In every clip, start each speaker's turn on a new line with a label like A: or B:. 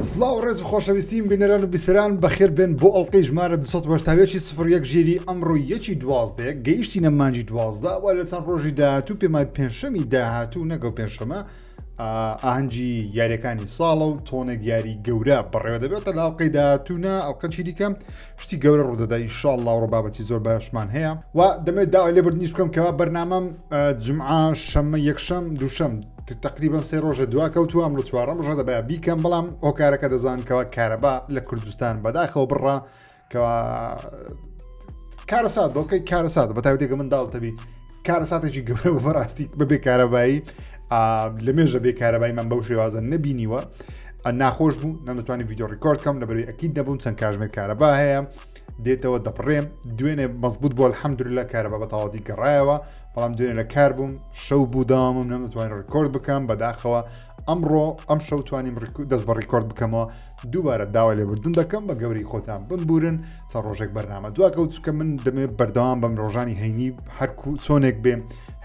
A: سلااو ڕێز خۆشەویستیم بینەران و بیسەران بەخێر بێن بۆ ئەڵلقەی ژمارە 1970 سفر یەک ژێری ئەمڕۆ یەکی دوازدەیە گەیشتی نەمانجی دوازدە وە لە چەند ڕۆژی داهاتوو پێمای پێنجشەمی داهاتوو نەگەڵ پێنجشەمە ئاهەنگی یاریەکانی ساڵە و تۆنێک یاری گەورە بەڕێوە دەبێتە لاڵقەی داهاتوونا ئەڵلقەچی دیکەم شتی گەورە ڕوودەدا ئیشاڵ لاوڕ بابەتی زۆر باشمان هەیە و دەمێت داوای لێبرد نیست بکەم کەوا بەرنامەم جمعە شەممە یەکشەم دووشەم تقریبان سێ ڕۆژە دوا کەوتو ئەمڕۆ چوارەم ڕژە دەبە بیکەم بەڵام ئۆکارەکە دەزانکەوە کارەبا لە کوردستان بەداخەوە بڕە کەوا کارەسات بۆکەی کارەسات بە تاوتێکە من داڵتەبی کارەساتێکی گەورە بە بەڕاستی بە بێکارەبایی لە مێژە بێکارەبای من بەو شێوازە نەبینیوە ناخۆش بوو نەمتوانانی یددیو ڕیکۆرد کەم لە بەروی ئەکی دەبووم چەند کاژمێر کارەبا هەیە دێتەوە دەپڕێم دوێنێ مەزبوط بۆ حەمدرلا کارەبا بە تەواتی گەڕایەوە بەڵام دوێنێ لە کار بووم شەو بوو داوامم نەمتوانین ڕکۆرد بکەم بەداخەوە ئەمڕۆ ئەم شەوتوانیم دەست بە ڕیکۆرد بکەمەوە دووبارە داوای لێبوردن دەکەم بە گەورەی خۆتان بمبورن چەند ڕۆژێک بەرنامە دواکەوت چکە من دەمێ بەردەوام بەم ڕۆژانی هەینی هەرکو چۆنێک بێ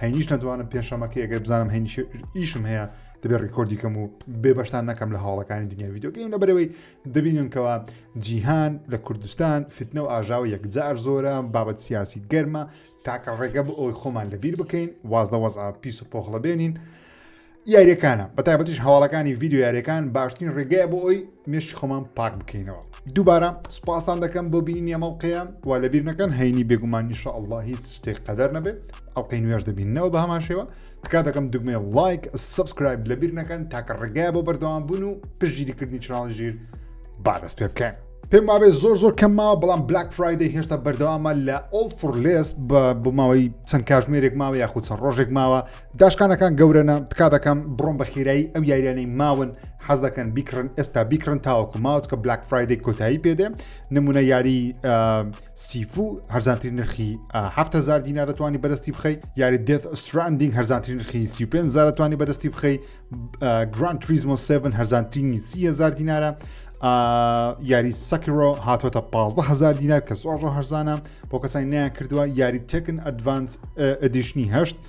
A: هەینیش نەدوانم پێنجشەمەکە ئەگەر بزانم هەینیش ئیشم هەیە دەبێ ڕیکۆردی کەم و بێبەشتان نەکەم لە هاوڵەکانی دنیا یددیوگەیم لە بەرەوەی دەبینن کەەوە جیهان لە کوردستان فتنە و ئاژاوە یەکجار زۆرە بابەت سیاسی گەرمە تاکە ڕێگە بۆ ئەوی خۆمان لەبیر بکەین واز لە وەزع پیس و پۆخڵە بێنین. یاریەکانە بە تایبەتیش هەواڵەکانی ڤیددیو یاریەکان باشترین ڕێگەیە بۆ ئەوی مێشی خۆمان پاک بکەینەوە دووبارە سوپاسان دەکەم بۆ بینی ئەمەڵقەیە و لە بیرنەکەن هەینی بێگومان نیشە ئەله هیچ شتێک قەدەر نەبێت ئەڵلقەی نوێش دەبینەوە بە هەمان شێوە تکا دەکەم دگمێ لایک سبسکرایب لە بیرنەکەن تاکە ڕێگای بۆ بەردەوام بوون و پشگیریکردنی چناڵی ژیر بادەست پێ بکەن. پێم وابێت زۆر زۆر کەمماوە بەڵام بلاک فرایدەی هێشتا بەردەوامە لە ئۆڵ فرلێس بە بۆ ماوەی چەند کاژمێرێک ماوە یاخود چەند ڕۆژێک ماوە داشکانەکان گەورەە تکا دەکەم بڕۆم بە خێرایی ئەو یاریانەی ماون حەز دەکەن بیکڕن ئێستا بیکڕن تاوەکو ماوت کە بلاک فرایدی کۆتایی پێدێ نمونە یاری سیفو هەرزانترین نرخی 7هزار دینا دەتوانانی بەدەستی بخەی یاری دێت ئەستراندینگ هەرزانترین نرخی سی پێ زارەتوانی بەدەستی بخەی گران تریزمۆ 7 هەرزانترینی سیهزار دینارە یاری سەکرۆ هاتوۆتە 15هزار دینار کە زۆر هەرزانە بۆ کەسانی نیان کردووە یاری تەکن ئەدڤانس ئەدیشنی هەشت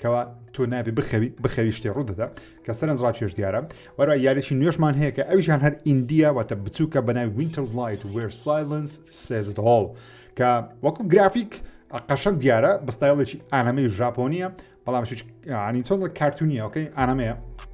A: کەوا تۆ نابێ بخەوی بخەوی شتێ ڕوودەدا کە سەرنج ڕاکێش دیارە وەرا یاریی نوێشمان هەیە کە ئەویشان هەر ئیندیا واتە بچووکە بەنای وینتەر لایت وێر سایلنس سێزت هۆڵ کە وەکو گرافیک قەشەن دیارە بەستایڵێکی ئانەمەی ژاپۆنیە بەڵام عنی تۆڵ کارتونیەکەی ئانەمەیە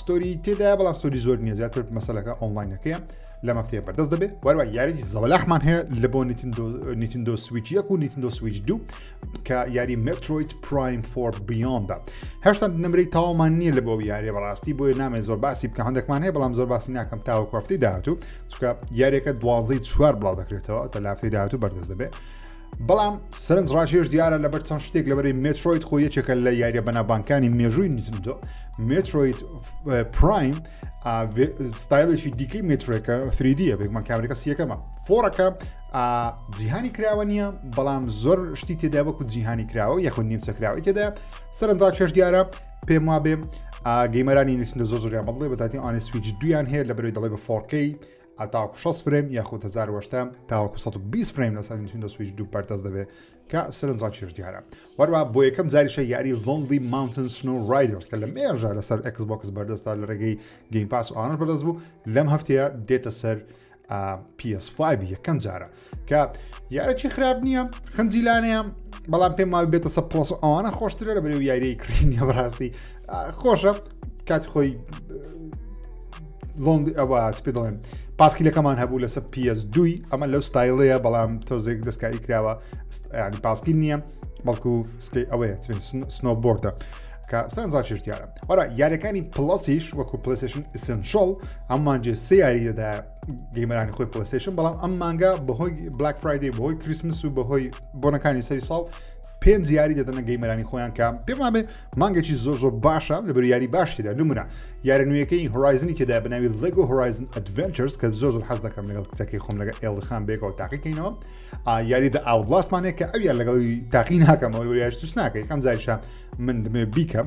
A: ستۆری تێدا بەڵام ستۆری زۆر نیە زیاتر مەسلەکە ئۆنلاینەکەیە لە مەفتێ بەردەست دەبێت وەروە یاریی زەوەلاحمان هەیە لە بۆ نیتندۆ سویچ یەک و نیتندۆ سویچ دوو کە یاری مترۆیت پرایم فۆر بیۆندا هەشتا نمرەی تاوامان نییە لە بۆ یاری بەڕاستی بۆیە نامێ زۆر باسی بکە هەندێکمان هەیە بەڵام زۆر باسی ناکەم تاوە کوفتی داهاتوو چکە یاریەکە دوازەی چوار بڵاو دەکرێتەوە تە لافتی داهاتوو بەردەست دەبێت بەڵام سرنج ڕاکێش دیارە لەبەر چەند شتێک لەبەری مێترۆید خۆ یەکێکە لە یاریە بەنابانکانی مێژووی نتندۆ مێترۆید پرایم ستایلێکی دیکەی مێترێکە فریدیە بێکمان کامریکە سیەکەمە فۆڕەکە جیهانی کراوە نییە بەڵام زۆر شتی تێدا وەکو جیهانی کراوە یەخود نیمچە کراوەی تێدا سەرنج ڕاکێش دیارە پێم وا بێ گەیمەرانی نووسندە زۆ زۆریان بڵێ بەتاتی ئانی سویج دویان هەیە لە بەرەوەی دەڵێ بە فۆرکەی هەتاوەکو 60 فرەیم یاخود هزار وەشتە تاوەکو 120 فرەیم لەسەر نتندۆ سویچ دوو پەرتەس دەبێت کە سەرنجڕاکیش دیارە وەروە بۆ یەکەم جاریشە یاری لۆندی ماونتن سنو رایدرس کە لە مێژە لەسەر ئەکسبکس بەردەستا لە ڕێگەی گەیم پاس ئاش بەدەست بوو لەم هەفتەیە دێتە سەر PS5 یەکەم جارە کە یارەکی خراپ نییە خنجیلانەیە بەڵام پێم ماوی بێتە سە پۆس ئەوانە خۆشترە لە بەرێ و یاریی کڕینە بەڕاستی خۆشە کات خۆی لۆند ئەوە پێ دەڵێن پاسکیلەکەمان هەبوو لەسە PS دوی ئەمە لەو ستایلەیە بەڵام تۆزێک دەستکاری کراوە ینی پاسکیل نییە بەڵکو سکی ئەوەیە سنۆبۆردە. سانزاشتیارە وەرا یارەکانی پڵسیش وەکو پلسشن ئسنشۆڵ ئەمانجێ سیاری دەدایە گەیمەرانی خۆی پلستیشن بەڵام ئەم مانگا بەهۆی بلاک فرایدی بەهۆی کریسمس و بەهۆی بۆنەکانی سەری ساڵ پێنج یاری دەدەنە گەیمەرانی خۆیان کە پێمان بێ مانگێکی زۆر زۆر باشە لە بەر یاری باشیدا نمونە یارە نوێیەکەی هۆرایزنی تێدا بناوی لەگۆ هۆرایزن ئەدڤنچرس کە زۆر زۆر حەز دەکەم لەگەڵ کچەکەی خۆم لەگە ئێڵخان بێکەوە تاقیکەینەوە یاری دە ئاوڵاسمانێ کە ئەو یار لەگەڵی تاقی ناکەمەوە یاش ناکەی ئەم زایشە من دمێ بیکەم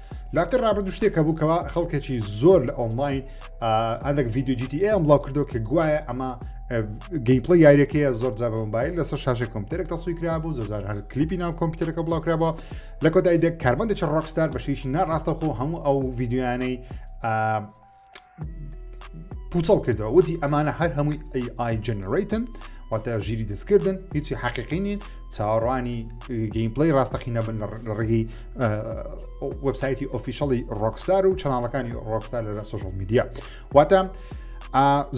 A: لاتر رابردو شتێک هەبوو کەوا خەڵکێکی زۆر لە ئۆنلاین هەندێک ڤیددیو جیتی ئەم بڵاو کردو کە گوایە ئەمە گەیمپڵی یاریەکەیە زۆر جا بەمبایل لەسەر شاشە کۆمپیوتەرێک تەسوی کرابوو زۆزار هەر کلیپی ناو کۆمپیوتەرەکە بڵاوکرابە لە کۆتاییدە کاربندێکی ڕۆکستار بەشیش ناڕاستەخۆ هەموو ئەو ڤیددیویانەی پوچەڵ کردەوە وتی ئەمانە هەر هەمووی AI جنرەیتن واتە ژیری دەستکردن هیچی حەقیقی نین چاوەڕوانی گەیم پلی ڕاستەقی نەبن لە ڕێگەی وەبسایتی ئۆفیشەڵی ڕۆکسار و چەناڵەکانی ڕۆکسار لە سوۆشل میدیا واتە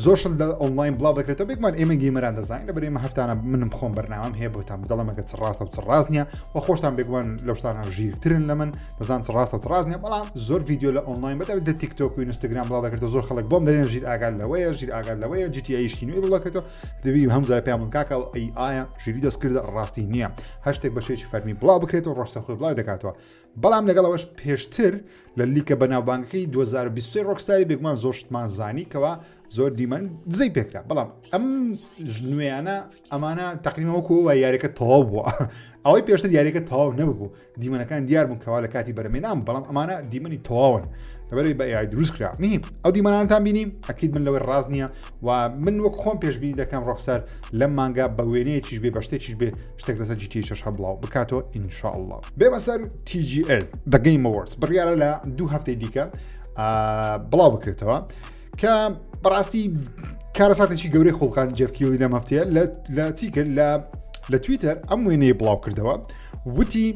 A: زۆرشن لە ئۆنلاین بڵاو دەکرێتەوە بێکمان ئێمە گەیمەران دەزانین لە بەرێمە هەفتانە منم خۆم بەرنامەم هەیە بۆتان بدەڵەمەکە چ ڕاستە و چ ڕاستنیە و خۆشتان بێگومان لەشتانە ژیرترن لە من بەزان ڕاستە ڕاست نیە بەڵام زۆر ڤیددیو لە ئۆنلاین بەدا لە تیکتۆک و ئینستاگرام بڵاو دەکرێت زۆر خەڵک بۆم دەێن ژیر ئاگال لەوەیە ژیر ئاگال لەوەیە جیتی ئەیشکی نوێ بڵکێتەوە دەبی هەم زار پێیان کاکە و ئەی ئایا ژیری دەستکردە ڕاستی نییە هەشتێک بەشێکی فەرمی بڵاو بکرێت و ڕۆشتە خۆی بڵاو دەکاتەوە بەڵام لەگەڵەوەش پێشتر لە لیکە بەناوبانگەکەی 2020 ڕۆکساری بێگومان زۆر شتمان زانی کەەوە زۆر دیمەن دزەی پێکرا بەڵام ئەم نوێیانە ئەمانە تەقیمەوە کۆوە یاریەکە تەواو بووە ئەوەی پێشتر یاریەکە تەواو نەبوو دیمەنەکان دیار بوون کەوا لە کاتی بەرەمێنام بەڵام ئەمانە دیمەنی تەواون لەبەری بە یای دروست کرا میم ئەو دیمانانتان بینیم ئەکیید من لەوەی ڕاست نییە و من وەک خۆم پێشببینی دەکەم ڕۆخسەر لەم مانگا بە وێنەیەکیش بێ بە شتێکیش بێ شتێک لەسە جیتی چش هەبڵاو بکاتەوە ئینشاءله بێ بەسەر TGL دەگەیمەوەرس بڕیاە لە دوو هەفتەی دیکە بڵاو بکرێتەوە. کە بەڕاستی کارەساتێکی گەورەی خۆڵقان جەفکیەوەی لە مەفتەیە لە چی کرد لە لە تویتەر ئەم وێنەیە بڵاو کردەوە وتی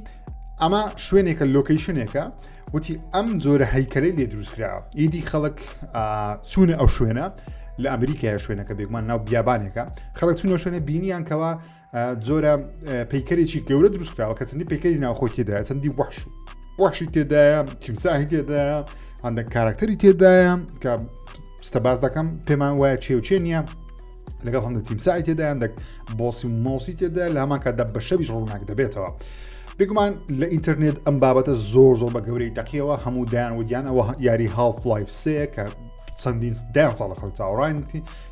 A: ئەمە شوێنێکە لۆکەیشنێکە وتی ئەم جۆرە هەیکەلەی لێ دروستکرا ئیدی خەڵک چوونە ئەو شوێنە لە ئەمریکای شوێنەکە بێگومان ناو بیابانێکە خەڵک چونە شوێنە بینیان کەەوە جۆرە پیکەرێکی گەورە دروستکراوە کە چەندی پیکەری ناوخۆی تێدایە چەندی وەحش و وەحشی تێدایە تیمساهی تێدایە هەندێک کارکتەری تێدایە کە ستە باز دەکەم پێمان وایە چێوچێ نییە لەگەڵ هەندە تیمسای تێدا هەندێک بۆسی و مۆسی تێدا لە هەمان کاتدا بە شەویش ڕووناک دەبێتەوە. بگومان لە ئینتەرنێت ئەم بابەتە زۆر زۆر بە گەورەی دەقیەوە هەموو دایان ودیان ئەوە یاری هاڵف لایف سێ کە چەندین دایان ساڵە خەڵ چاوڕایتی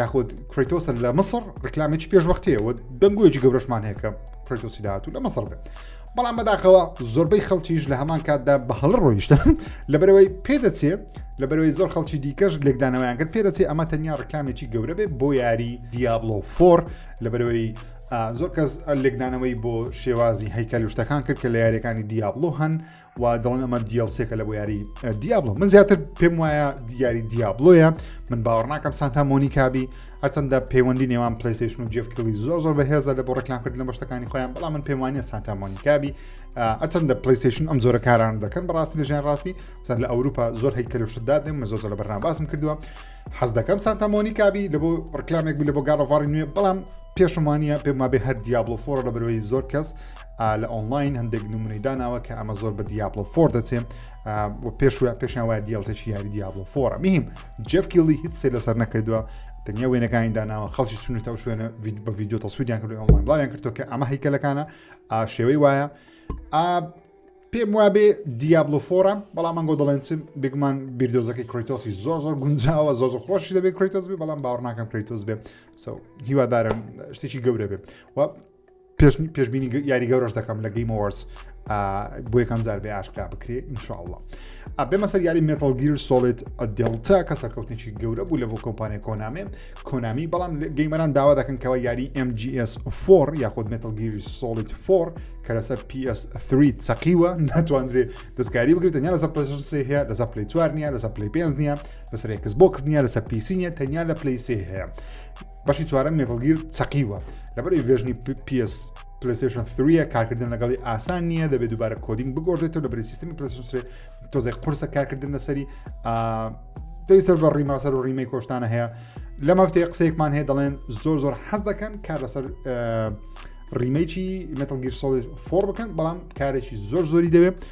A: یاخود کرێتۆسە لە مصر ڕکلامێکی پێشوەختەیە و دەنگۆیەکی گەورەشمان هەیە کە کرێتۆسی داات و لە مەسەڵ بێت بەڵام بەداخەوە زۆربەی خەڵکیش لە هەمان کاتدا بە هەڵ ڕۆیشتە لەبەرەوەی پێدەچێ لەبەرەوەی زۆر خەڵکی دیکەش لێکدانەوەیان کرد پێدەچێ ئەمە تەنیا ڕکلامێکی گەورە بێت بۆ یاری دیابلۆ فۆر لەبەرەوەی زۆر کەس لێکدانەوەی بۆ شێوازی هەیکەل شتەکان کرد کە لە یاریەکانی دیابلۆ هەن و دەڵن ئەمە دیالسێکە لە بۆ یاری دیابلۆ من زیاتر پێم وایە دیاری دیابلۆیە من باوەڕ ناکەم سانتا مۆنیکابی هەرچەندە پەیوەندی نێوان پلیسیشن و جێفکلی زۆر زۆر بەهێزە لە بۆ ڕێکلامکردن لە بەشتەکانی خۆیان بەڵام من پێم وانە سانتا مۆنیکابی ئەچەندە پلیسیشن ئەم زۆرە کاران دەکەن بەڕاستی لە ژیان ڕاستی سەر لە ئەوروپا زۆر هەیکەلوشتدا دێم زۆر لە بەرنامە باسم کردووە حەز دەکەم سانتا مۆنیکابی لە بۆ ڕکلامێک بوو لە بۆ گاڕۆڤاری نوێ بەڵام پێشمانە پێمابێ هەر دیابلۆ فۆڕ لە بەرەوەی زۆر کەس لە ئۆنلاین هەندێک نمونەی داناوە کە ئەمە زۆر بە دیابلۆ فۆر دەچێ پێشوە پێشیان وایە دیڵسێکی یاری دیابلۆ فۆرە میم جەفکیڵی هیچ سێ لەسەر نەکردووە تەنیا وێنەکانی داناوە خەڵکی چونە تا شوێنە بە ڤیددیو تەسوودیان کرد ئۆنلاین بڵاویان کردو کە ئەمە هیکەلەکانە شێوەی وایە پێم وابێ دیابلو فۆرە بەڵام من گۆ دەڵێن چم بگومان بیردۆزەکەی کریتۆسی زۆر زۆر گونجاوە زۆر زۆر خۆشی دەبێت کریتۆس بێ بەڵام باوەڕناکەم کریتۆس بێ سو هیوادارم شتێکی گەورە بێت پێش پێشبینی یاری گەورەش دەکەم لە گەیم وەرس بۆ یەکەم جار بێ ئاشکرا بکرێ انشاءله ئەبێمە سەر یاری مێتەڵگیر سۆڵێت دڵتا کە سەرکەوتنیی گەورە بوو لە بۆ کۆمپانیای کۆنامێ کۆنامی بەڵام گەیمەران داوا دەکەن کەەوە یاری MGS فۆر یاخود مێتەڵگیری سۆڵیت فۆر کە لەسەر PS3 سەقیوە ناتواندرێ دەستکاری بگرێت تەنیا لەسەر پسێ هەیە لەسە پلی چوار نیە لەسە پلی پێنج نیە لەسەر کەس بۆکس نیە لەسە پیسی نیە تەنیا لە پلیسێ هەیە بەشی چوارەم مێتڵگیر چەقیوە لەبەر ڤێژنی PS پلیسشن 3 کارکردن لەگەڵی ئاسان نییە دەبێت دووبارە کۆدینگ بگۆڕێتەوە لە بری سیستمی پلیسشنێ تۆزێک قرسە کارکردن لەسەری پێویستە بە ڕیماسەر و ڕیمەی کۆشتانە هەیە لە مافتێ قسەیەکمان هەیە دەڵێن زۆر زۆر حەز دەکەن کار لەسەر ڕیمەیکی متەگیر سۆڵ فۆر بکەن بەڵام کارێکی زۆر زۆری دەوێت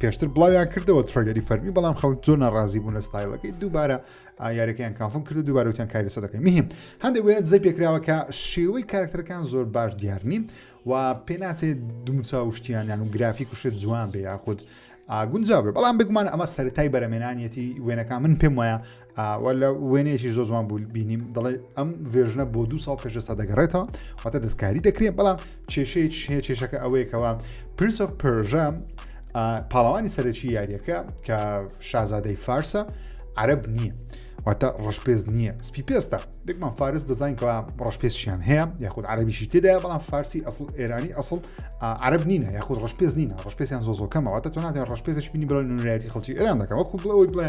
A: پێشتر بڵاویان کردەوە ترۆیدەری فەرمی بەڵام خەڵ زۆر ناڕازی بوون لە ستایلەکەی دووبارە یارەکەیان کاسڵ کرد دووبارەوتیان کاری سە دەکەین مهم هەندێک وێنە زەی پێکراوە کە شێوەی کارکتەرەکان زۆر باش دیار نین و پێناچێت دومچاوشتیانیان و گرافی کوشێت جوان بێ یاخود گونجاو بێ بەڵام بگومان ئەمە سەرای بەرەمێنانیەتی وێنەکان من پێم وایە وەلا وێنەیەکی زۆ زوان بوو بینیم دەڵێ ئەم ڤێژنە بۆ دو ساڵ پێشستا دەگەڕێتەوە واتە دەستکاری دەکرێت بەڵام کێشەیە هەیە کێشەکە ئەوەیەکەوە پرس of پرژە پاڵەوانی سەرەکی یاریەکە کە شازادەی فارسە عرب نییە. واتە ڕشپێز نییە سپی پێستە دەکمان فارس دەزانکەوە ڕشپێسیان هەیە یاخود عربیشی تێدا بەڵام فارسی ئەسڵ ئێرانی ئەسڵ عرب نینە یاخود ڕشپێز نینە ڕشپێسیان زۆزۆکەمەوە تۆ ناتێن ڕشپێزش بینی بڵێن نوێتی خەڵکی ئێران دەکەەوە کو بڵەوەی بڵێ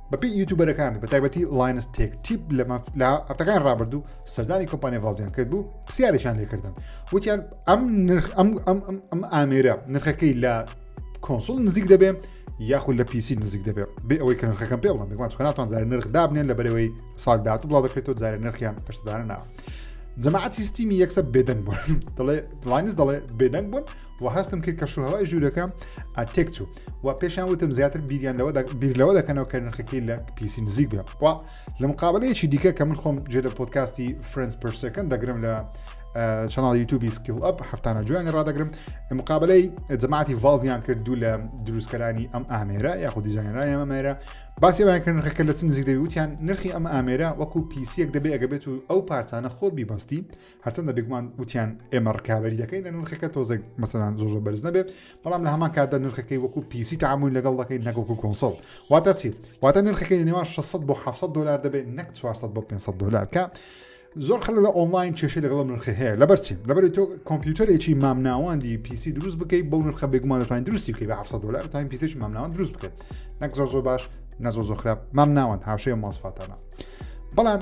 A: بەپی یوتوبەرەکان بە تایبەتی لاینس تێک تیپ لە لە هەفتەکان ڕابردوو سەردانی کۆمپانیا ڤالدیان کرد بوو پرسیارێکیان لێکردن وتیان ئەم نرخ ئەم ئەم ئەم ئامێرە نرخەکەی لە کۆنسول نزیک دەبێ یاخود لە پیسی نزیک دەبێت بێ ئەوەی کە نرخەکەم پێ بڵم بگوان چکەناتوان زار نرخ دابنێن لە بەرەوەی سال داات بڵاو دەکرێتەوە زار نرخیان پشتدانە ناوە. جەماعەتی ستیمی یەکسە بێدەنگ بوون دەڵێ لاینز دەڵێ بێدەنگ بوون و هەستم کرد کە شوهوای ژوورەکەم ئەتێک چوو و پێشان وتم زیاتر بیریان لەوە بیر لەوە دەکەنەوە کە نرخەکەی لە پیسی نزیک بێ و لە مقابلەیەکی دیکە کە من خۆم جێ لە پۆتکاستی فرنس پرسەکەن دەگرم لە چناڵ یوتوبی سکیل ئەپ هەفتانە جویانی ڕدەگرم مقابلەی جەماعتی ڤالڤیان کرد دوو لە دروستکەرانی ئەم ئامێرە یاخود دیزانەرانی ئەمە مێرە باسیەوەیان کرد نرخەکە لە چ نزیک دەویوتیان نرخی ئەم ئامێرە وەکو پیسیەک دەبێ ئەگە بێت و ئەو پارچانە خۆت بیبستی هەرچەندە بێگومان وتیان ئێمە ڕکابی دەکەین لە نرخەکە تۆزێک مەسەران زۆ زۆ بەرز نەبێت بەڵام لە هەمان کاتدا نرخەکەی وەکو پیسی تعامل لەگەڵ دەکەین نەگەڵکو کۆنسڵ واتە چی واتە نرخەکەی لە نێوان 600 بۆ 700 دلار دەبێت نەک 400 بۆ 500 دلار کە زۆر خەل لە ئۆنلاین کێشە لەگەڵ نرخ هەیە لەبەر چی لەبەر تۆ کۆمپیوتەرێکی مامناواندی پیسی دروست بکەی بۆ نرخە بێگومانەکان دروستی بکەی بە 700 دلار تاین پیسێکی مامناوان دروست بکەێت نەک زۆر زۆر باش نەزۆ زۆ خراپ مامناوان هاوشەیە ماسفاتانە بەڵام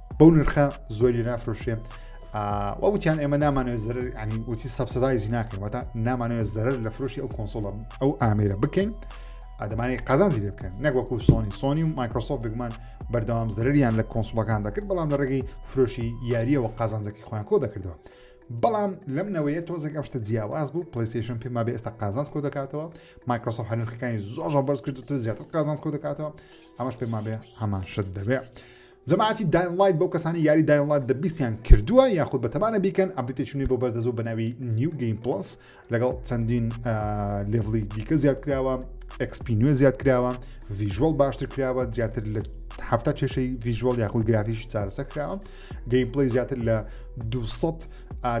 A: بەو نرخە زۆری نافرۆشێ وە وتیان ئێمە نامانێت زەرر ینی وتی سەبسەدایزی ناکەین وەتا نامانەوە زەرر لە فرۆشی ئەو کۆنسۆڵە ئەو ئامێرە بکەین ئادەمانی قازانجی لێ بکەن نەگوەکو سۆنی سۆنی و مایکرۆسۆف بگومان بەردەوام زەرریان لە کۆنسڵەکان دەکرد بەڵام لە ڕێگەی فرۆشی یاریەوە قازانجەکی خۆیان کۆ دەکردەوە بەڵام لەم نەوەیە تۆزێک ئەم شتە جیاواز بوو پلیستیشن پێما بێ ئێستا قازانس کۆ دەکاتەوە مایکرۆسۆف هەرخەکانی زۆر بەرز کرد تۆ زیاتر قازانس کۆ دەکاتەوە ئەمەش پێما بێ هەمان شت دەبێت. جەماعەتی داین ڵایت بەو کەسانەی یاری داین ڵایت دە بیستیان کردووە یاخود بەتەمانە بیکەن ئەبدیتێکی نوێ بۆ بەردەزوو بە ناوی نیو گەیم پڵس لەگەڵ چەندین لێڤڵی دیکە زیاد کراوە ئەکسپی نوێ زیاد کراوە ڤیژوەڵ باشتر کراوە زیاتر لە هەفتا کێشەی ڤیژوەڵ یاخود گرافیش چارەسە کراوە گەیم پڵی زیاتر لە 200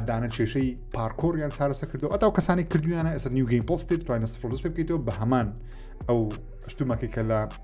A: دانە کێشەی پارکۆریان چارەسە کردو ئەتا کەسانی کردویانە ئەسەر نیو گەیم پڵستی توانە سفرس پێ بکەیتەوە بە هەمان ئەو شتومەکەی کە لە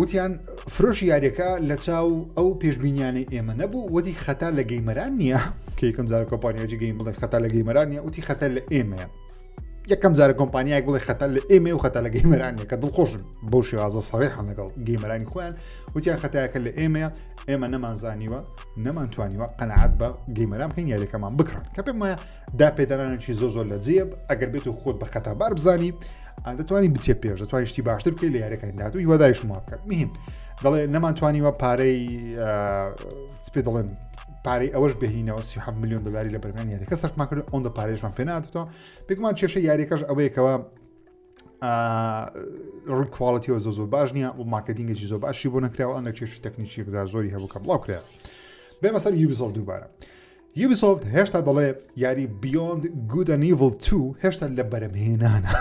A: وتیان فرۆشی یاریەکە لە چاو ئەو پێشببینیانەی ئێمە نەبوو وەدی خەتا لە گەیمەران نییە کەکەم زار کۆپانیاجی گەیم بڵێ خەتا لە گەیمەران نیە وتی خەتە لە ئێمەیە یەکەم جارە کۆمپانیایك بڵێ خەتا لە ئێمە و خەتا لە گەیمەرانە کە دڵخۆش بۆ شێوازە سەڕێحان لەگەڵ گەیمەرانی خۆیان وتیان خەتایەکە لە ئێمەیە ئێمە نەمانزانیوە نەمانتوانیوە قەنەعات بە گەیمەران بکەین یاریەکەمان بکڕن کە پێم وایە دا پێدانانێکی زۆ زۆر لە جێب ئەگەر بێت و خۆت بە خەتابار بزانی دەتوانانی بچێ پێش دەتوانانی شتی باشتر بکەیت لە یارەکانی داات و هیوادای شما بکەن مهم دەڵێ نەمانتوانیوە پارەی پێ دەڵێن پارەی ئەوەش بهینەوە سی میلیۆن دلاری لە بەرمان یاریەکە سەرمان کرد ئەوەن دە پارێژمان پێناتەوە بگومان کێشە یاریەکەش ئەوەیەکەوە ڕووی کوالڵەتیەوە زۆ زۆر باش نییە و ماکەدینگەی زۆر باشی بۆ نکراوە ئەنە کێشی تەکنیکی گزار زۆری هەبووکە بڵاو کرا بێمە سەر یوبیزۆڵ دووبارە یوبیسۆفت هێشتا دەڵێ یاری بیۆند گود ئەن ئیڤڵ تو هێشتا لە بەرەمهێنانە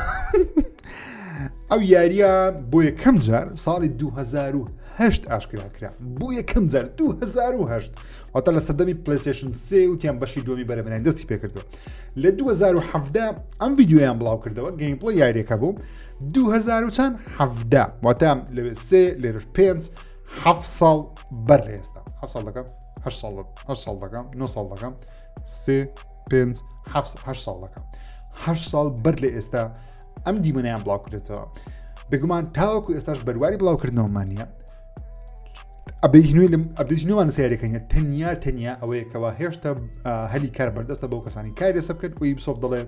A: ئەو یاریە بۆ یەکەم جار ساڵی 2010 ئاشکرا کرا بۆ یەکەم جار 2010 واتە لە سەدەمی پلیسشن سێ وتیان بەشی دومی بەرەمێنان دەستی پێکردو لە 2017 ئەم یددیویان بڵاو کردەوە گەیمپڵە یاریەکە بوو 2010 واتە لەوێ سێ لێرش پێنج ه ساڵ بەر لە ئێستا ه ساڵەکە هە ساڵ هە ساڵ دەکەم نۆ ساڵ دەکەم سێ پێنج هە ساڵ دەکەم هە ساڵ بەر لە ئێستا ئەم دیمەنیان بڵاوکرێتەوە بگومان تاوەکو ئێستاش بەرواری بڵاوکردنەوەمانە ئەبیژنوی لەم ئەبیژنوان سیارەکەنیە تەنیا تەنیا ئەوەیەکەوە هێشتا هەلی کار بەردەستە بۆ کەسانی کاری لەسە بکەن وی بسۆب دەڵێن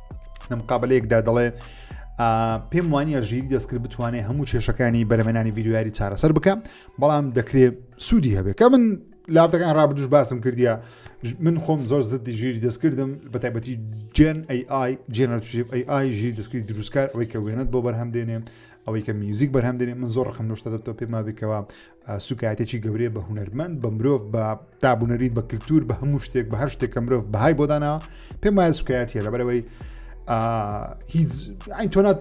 A: لە مقابلەیەکدا دەڵێ پێم وانە ژیری دەستکرد بتوانێت هەموو کێشەکانی بەرەمەنانی ڤیددیویاری چارەسەر بکە بەڵام دەکرێت سوودی هەبێت کە من لافتەکان ڕابدوش باسم کردیا من خۆم زۆر زدی ژیری دەستکردم بە تایبەتی جێن AI جێنەرشیف AI ژیر دەستکرد دروستکار ئەوەی کە وێنەت بۆ بەرهەم دێنێ ئەوەی کە میوزیک بەرهەم دێنێ من زۆر ڕقم لەشتە دەبتەوە پێما بکەوە سوکایەتێکی گەورەیە بە هونەرمەند بە مرۆڤ بە دابوونەریت بە کللتور بە هەموو شتێک بە هەر شتێکە مرۆڤ بەهای بۆدانا پێم وایە سوکایەتە لەبەرەوەی هیچ ئەین تۆنات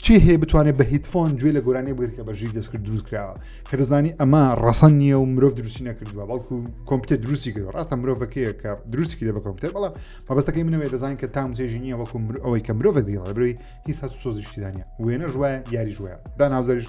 A: چی هەیە بتوانێت بە هیتفۆن گوێ لە گۆرانی بگرت کە بەژیر دەستکرد دروست کراوە کە دەزانی ئەمە ڕەسەن نییە و مرۆڤ دروستی نەکردووە بەڵکو کۆمپیوتەر دروستی کرد ڕاستە مرۆڤەکەیە کە دروستی کرد بە کۆمپیوتەر بەڵام مەبستەکەی منەوەی دەزان کە تام چێژی نییە وەکو ئەوەی کە مرۆڤ دیڵەبروی هیچ هەست سۆزیشتیدانە وێنە ژوایە یاری ژوە داناوزەریش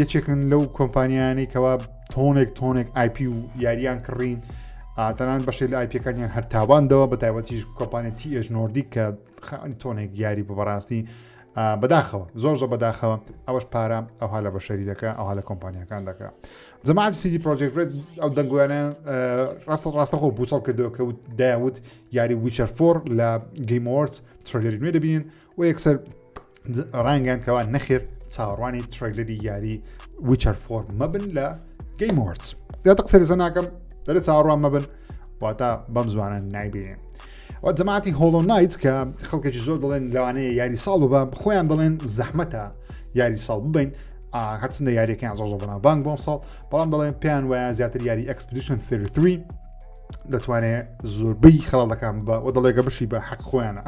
A: یەکێکن لەو کۆمپانیانەی کەوا تۆنێک تۆنێک آیP و یاریان کڕین ئاتەنان بەشێ لە آیپەکانیان هەرتاواندەوە بە تایبەتیش کۆمپانێت تیئش نۆردیک کە خانی تۆنێک یاری بە بەڕاستی بەداخەوە زۆر زۆر بەداخەوە ئەوەش پارە ئەوها لە بەشەری دەکە ئەوها لە کۆمپانیەکان دەکە جەماعات سیدی پرۆژێک بێت ئەو دەنگویانیان ڕاستە ڕاستەخۆ بوچەڵ کردەوە کە داوت یاری وچەر فۆر لە گەیمۆرس ترلێری نوێ دەبین و یەکسەر ڕانگەیان کەوا نەخێر چاوەڕوانی ترەیلەری یاری وچەر فۆرم مەبن لە گەیم وەرز زیاتر قسەری سەناکەم دەرە چاوەڕوان مەبن واتە بەم زوانە نایبینێن و جەماعتی هۆڵۆ نایت کە خەڵکێکی زۆر دەڵێن لەوانەیە یاری ساڵ بە خۆیان دەڵێن زەحمەتە یاری ساڵ ببین هەرچندە یاریەکەیان زۆر زۆر بەناوبانگ بۆم ساڵ بەڵام دەڵێن پێیان وایە زیاتر یاری ئەکسپدیشن 3 دەتوانێت زۆربەی خەڵەکان بە و دەڵێگە بشی بە حەق خۆیانە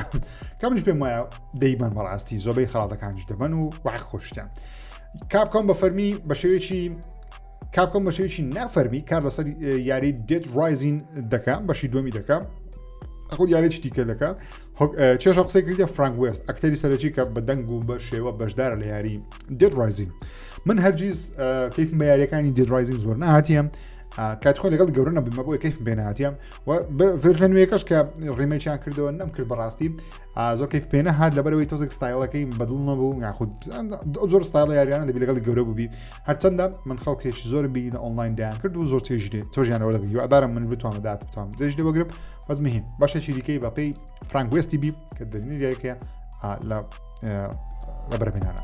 A: کەمش پێم وایە دەیبەن بەڕاستی زۆربەی خەڵاتەکانش دەبن و وە خۆشتیان کاپکۆم بە فەرمی بە شێوێکی کاپکۆم بە شێوێکی نافەرمی کار لەسەر یاری دێت ڕایزین دەکەم بەشی دومی دەکەم ئەخۆ یارێکی دیکە دەکە چێشە قسەی کردە فرانک وست ئەکتەری سەرەکی کە بە دەنگ و بە شێوە بەشدارە لە یاری دێت ڕایزین من هەرگیز کەیفم بە یاریەکانی دێت ڕایزین زۆر نهاتیم کاتی خۆی لەگەڵ گەورە نەبوومە بۆی کەیفم پێ ناتیە و ڤێرژە نوێیەکەش کە ڕیمەیان کردەوە نەم کرد بەڕاستی زۆ کەیف پێێنە هاات لەبەرەوەی تۆزێک ستایلەکەی بەدڵ نەبوو یاخود زۆر ستایل یاریانە دەبی لەگەڵی گەورە بووبی هەرچەندە من خەڵکێکی زۆر بینی لە ئۆنلاین دایان کرد و زۆر تێژێ تۆژیانەوە لەگەڵی ئەبارم من بتوانم دات بتوانم دێژ لێ وەگرم بەس مهم بەشێکی دیکەی بەپی فرانگوێستی بی کە دەرنی دیارکە لە لە بەرەبێنانە.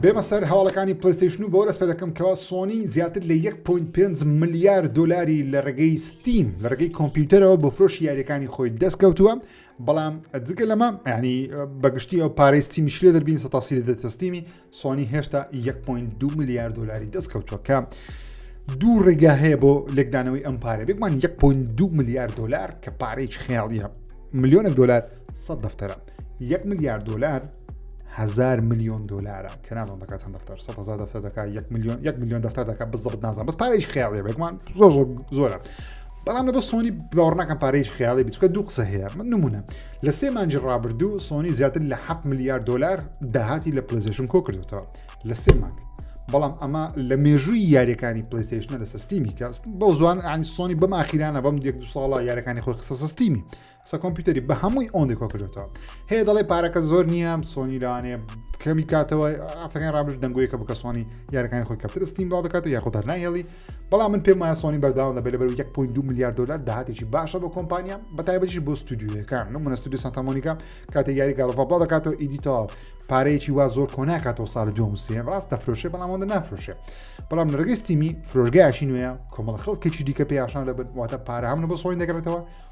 A: بێمە سەر هەواڵەکانی پلیستیشن و بۆ دەست پێدەکەم کەوا سۆنی زیاتر لە 1.5 ملیار دلاری لە ڕێگەی ستیم لە ڕێگەی کۆمپیوتەرەوە بۆ فرۆشی یاریەکانی خۆی دەستکەوتووە بەڵام جگە لەمە ینی بەگشتی ئەو پارەی ستیمیش لێ دەبین سە تاسی لە دەتەستیمی سۆنی هێشتا 1.2 ملیار دلاری دەستکەوتوەکە. دوو ڕێگا هەیە بۆ لێکدانەوەی ئەم پارە بێکمان 1.2 ملیار دلار کە پارەی خێڵیە ملیۆنە دلار سە دەفتەرە یەک ملیار دلار هزار میلیۆن دلارە کە نازان دەکە چەند دەفتەر سە هزار دەفتەر دەکە یەک میلیۆن یەک میلیۆن دەفتەر دەکە بزەبت نازان بەس پارێش خیاڵێ بێکمان زۆر زۆر زۆرە بەڵام لە بە سۆنی باوەڕناکەم پارێش خیاڵی بچکە دوو قسە هەیە من نمونە لە سێ مانجی ڕابردوو سۆنی زیاتر لە 7 میلیارد دلار داهاتی لە پلزیشن کۆ کردوتەوە لە سێ مانگ بەڵام ئەمە لە مێژووی یاریەکانی پلیسیشنە لە سستیمی کەست بەو زوان ئەنی سۆنی بەم ئاخیرانە بەم دێک دو ساڵە یارەکانی خۆی قسە سستیمی قسە کۆمپیوتەری بە هەمووی ئەوەندە کۆ کردێتەوە هەیە دەڵێ پارەکە زۆر نییە سۆنی لەوانێ کەمی کاتەوە ئەفتەکان ڕابش دەنگویە کە بکە سۆنی یارەکانی خۆی کەپتر ستیم بڵاو دەکات و یاخۆ دەرناهێڵی بەڵام من پێم وایە سۆنی بەرداوە لە بەلەبەر 1.2 میلیارد دلار داهاتێکی باشە بۆ کۆمپانیا بە تایبەتیش بۆ ستودیوەکان من منە ستودی سانتامۆنیکا کاتێک یاری گاڵفا بڵاو دەکاتەوە ئیدیتەوە پارەیەکی وا زۆر کۆناکاتەوە ساڵ دوم سێ ڕاست دەفرۆشێ بەڵام ئەوەندە نافرۆشێ بەڵام لەڕگەی ستیمی فرۆژگایشی نوێە کۆمەڵ خەڵکێکی دیکە پێیاشان لەبن واتە پارە هەمنە بۆ سۆین دەگرێتەوە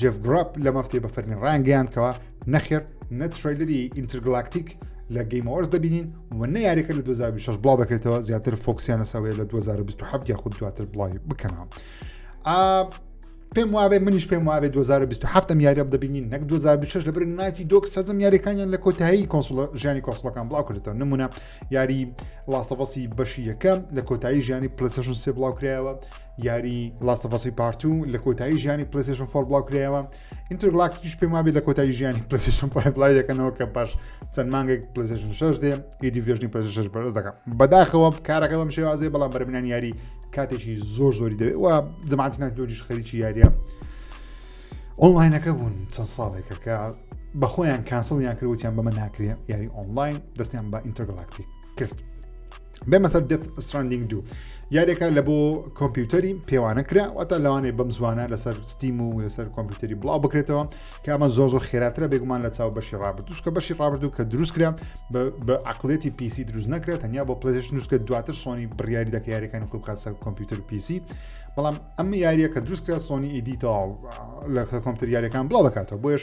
A: جف گرپ لە مەفتێ بە فەرمی ڕانگەیان کەەوە نەخێر نەترۆیلری ئینترگلاکتیک لە گەیمۆرس دەبینین و نە یاریەکە لە 2006 بڵاو دەکرێتەوە زیاتر فۆکسیان لەسەوەیە لە 2027 یاخود دواتر بڵاوی بکەنەوە. پێم وابێ منیش پێم وابێ 2027 ئەم یاریب دەبینین نەک 2026 لەبر نایتی دۆک سەرجەم یاریەکانیان لە کۆتایی کۆنسڵ ژیانی کۆسڵەکان بڵاو کردێتەوە نمونە یاری لاستەڤسی بەشی یەکەم لە کۆتایی ژیانی پلسشن سێ بڵاو کرایەوە یاری لاستەفەسی پارتو لە کۆتایی ژیانی پلیسشن فۆر بڵاو کرایەوە ئینترگلاکتیش پێم وابێت لە کۆتایی ژیانی پلیسشن بڵای دەکەنەوە کە پاش چەند مانگێک پلیسشن شش دێ ئیدی ڤێژنی پلیسش بەرز دەکەم بەداخەوە کارەکە بەم شێوازێ بەڵام بەرمنان یاری کاتێکی زۆر زۆری دەوێت و زمانتی ناتۆجیش خەریکی یاریە ئۆنلاینەکە بوون چەند ساڵێکە کە بەخۆیان کانسڵیان کردوتیان بەمە ناکرێ یاری ئۆنلاین دەستیان بە ئینتەرگلاکتی کرد بێمە سەر دێت ستراندینگ دوو یارێکە لە بۆ کۆمپیوتەری پێوانە کرا واتە لەوانەیە بەم زوانە لەسەر ستیم و لەسەر کۆمپیوتەری بڵاو بکرێتەوە کە ئەمە زۆ زۆ خێراترە بێگومان لە چاو بەشی ڕابردوش کە بەشی ڕابردوو کە دروست کرا بە عقلێتی پیسی دروست نەکرێت تەنیا بۆ پلێش نووسکە دواتر سۆنی بڕیاری دەکە یاریەکانی خۆی بخات سەر کۆمپیوتەر پیسی بەڵام ئەم یاریە کە دروست کرا سۆنی ئیدیتەوە لە کۆمپیوتەر یاریەکان بڵاو دەکاتەوە بۆیش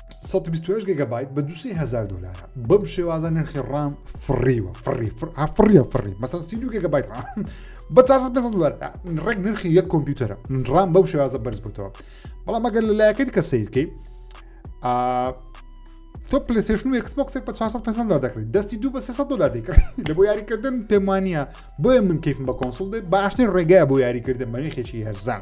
A: سەد و بیست و هەشت گێگەبایت بە دوو سێ هەزار دۆلارە بەم شێوازە نرخی ڕام فڕیوە فڕی فڕ- ئا، فڕیە فڕی مەسەن سی دوو گێگەبایت ڕام بە 400 500 دلار ئا، ڕێک نرخی یەک کۆمپیوتەرە ڕام بەو شێوازە بەرز بووتەوە بەڵام ئەگەر لە لایەکە دیکە سیرکەی تۆ پلیسشن و ئەکسبکسێک بە 400 500 دلار دەکرێت دەستی دوو بە 300 دلار دەکرێت لە بۆ یاریکردن پێمانە بۆیە من کەیفم بە کۆنسڵ دێ باشترین ڕێگای بۆ یاریکردن بە نرخێکی هەرزان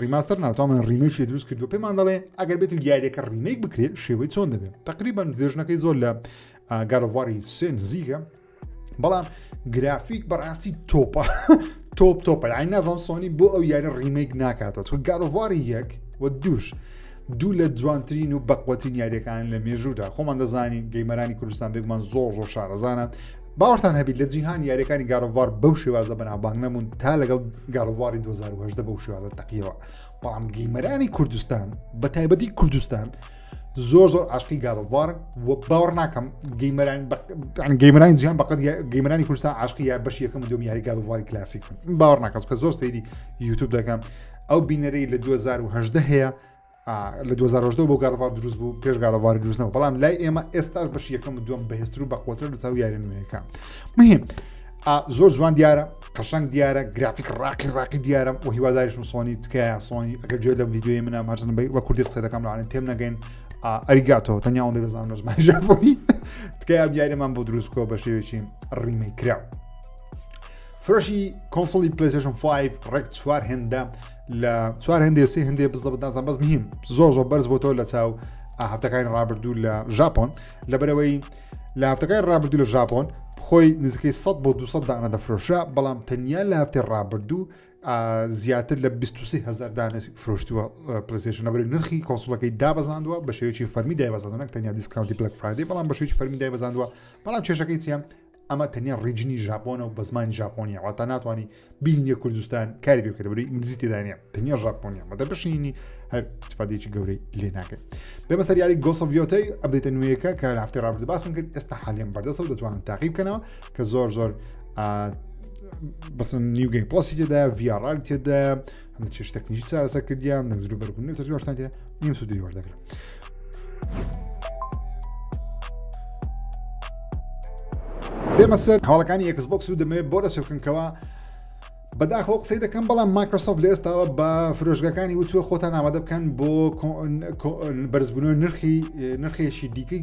A: ڕیماستەر ناوتان من ڕیمێکی دروست کردو پێمان دەڵێ ئەگەر بێت و یاریەکە ڕیمێک بکرێت شێوەی چۆن دەبێت تقریبان درێژنەکەی زۆر لە گەرەواری سێ نزیکە بەڵام گرافیک بەڕاستی تۆپە تۆپ تۆپە یان نازم سۆنی بۆ ئەو یاری ڕیمێک ناکاتەوە چون گەرەواری یەک و دوش دوو لە جوانترین و بەقوەتین یاریەکان لە مێژوودا خۆمان دەزانین گەیمەرانی کوردستان بێگومان زۆر زۆر شارەزانە باوەڕتان هەبیت لە جیهان یاریەکانی گارۆڤار بەو شێوازە بەنابانگ نەبوون تا لەگەڵ گارۆڤاری 2010 بەو شێوازە تەقیەوە بەڵام گەیمەرانی کوردستان بە تایبەتی کوردستان زۆر زۆر عاشقی گارۆڤار و باوەڕ ناکەم گەیمەران گەیمەرانی جیان بەقەت گەیمەرانی کوردستان عاشقی یا بەش یەکەم دوم یاری گارۆڤاری کلاسیک باوەڕ ناکەم کە زۆر سەیری یوتوب دەکەم ئەو بینەرەی لە 2010 هەیە لە 2010 بۆ گاڵڤار دروست بوو پێش گاڵڤار دروستنەوە بەڵام لای ئێمە ئێستاش بەش یەکەم دوم بەهێستر و بەقوتر لە چاو یارە نوێیەکە مهم زۆر جوان دیارە قەشنگ دیارە گرافیک ڕاقی ڕاقی دیارە و هیواداریشم سۆنی تکایە سۆنی ئەگەر جوێ لە ویددیوی منە ماچن بی وە کوردی قسە دەکەم لاانێن تێم نەگەین ئەریگاتەوە تەنیاوەندە دەزانم لە زمان ژاپۆنی تکایە دیارەمان بۆ دروست بکەوە بە شێوێکی ڕیمەی کرا فرۆشی کۆنسڵی پلیسشن 5 ڕێک چوار هێندە لە چوار هەندێ سی هەندێ بزە بدازان بەس مهیم زۆر زۆر بەرز بۆتەوە لە چاو هەفتەکانی ڕابردوو لە ژاپۆن لە بەرەوەی لە هەفتەکانی ڕابردوو لە ژاپۆن خۆی نزیکەی 100 بۆ 200 دانە دەفرۆشە بەڵام تەنیا لە هەفتێ ڕابردوو زیاتر لە 23هزار دانە فرۆشتووە پلسیشن لەبەر نرخی کۆسڵەکەی دابزاندوە بە شێوەی فەرمی دایبزانەک تەنیا دیسکاونتی بلک فرادی بەڵام بە شێوی فەرمی دایبزاندوە بەڵام کێشەکەی چیان ئەمە تەنیا ڕیجنی ژاپۆنە و بە زمانی ژاپۆنیە واتا ناتوانانی بینیە کوردستان کاری بکرێت بەری ئینگلیزی تێدانە تەنیا ژاپۆنیە مەدە بشینی هەر تفادێکی گەورەی لێ ناکەن بێمە سەر یاری گۆسەڤیۆتەی ئەبێتە نوێیەکە کە هەفتی ڕابرد باسم کرد ئێستا حالیان بەردەسە و دەتوانن تاقی بکەنەوە کە زۆر زۆر بەسن نیوگەی پۆسی تێدا ڤیاڕال تێدا هەندە چێش تەکنیکی چارەسە کردیان نەزر و بەرگون و تەجواشتان کرد نیم سوودری وەردەگرم بێمە سەر هەواڵەکانی یەکس بۆکس و دەمەوێت بۆ دەست بکەنکەوە بەداخۆ قسەی دەکەم بەڵام مایکرۆسۆف لە ئێستاوە بە فرۆشگەکانی وتووە خۆتان ئامادە بکەن بۆ بەرزبوون نرخی نرخێکی دیکەی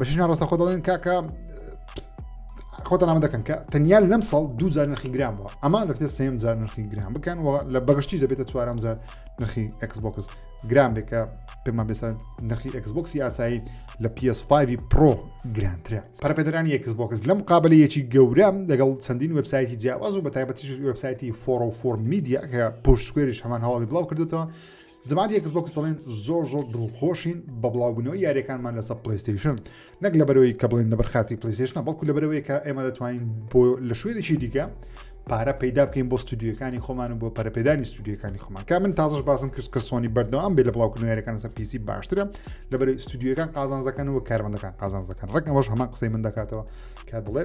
A: بەشینا ڕاستە خۆ دەڵێن کاکە خۆتە نامە دەکەن کە تەنیال لەم ساڵ دوو جار نرخی گرام بووە ئەمان دەبێت سێم جار نرخی گرام بکەن و لە بەگشتی دەبێتە چوارم جار نرخی ئەکسبکس گرام بێکە پێمان بێسە نرخی ئەکسبکسی ئاسایی لە PS5 پرۆ گرانترە پەرپێدرانی ئەکسبکس لەم قابلەیەکی گەورەم دەگەڵ چەندین وبسایتی جیاواز و بە تایبەتی وبسایتی فۆڕ و فۆرمیدیا کە پشتکوێریش هەمان هەواڵی بڵاو کردێتەوە جەماعەتی ئێکس بۆکس دەڵێن زۆر زۆر دڵخۆشین بە بڵاوبوونەوەی یاریەکانمان لەسەر پلیستیشن نەک لەبەرەوەی کە بڵێن لەبەر خاتی پلیستیشنە بەڵکو لەبەرەوەی کە ئێمە دەتوانین بۆ لە شوێنێکی دیکە پارە پەیدا بکەین بۆ ستودیوەکانی خۆمان و بۆ پەرپێدانی ستودیوەکانی خۆمان کا من تازش باسم کرد کە سۆنی بەردەوام بێ لە بڵاوکردنەوەەکان سە پیسی باشترە لەبەر ستودیوەکان قازانزەکەن و کارمەندەکان قازانزەکەن ڕێکەوەش هەمان قسەی من دەکاتەوە کا دڵێ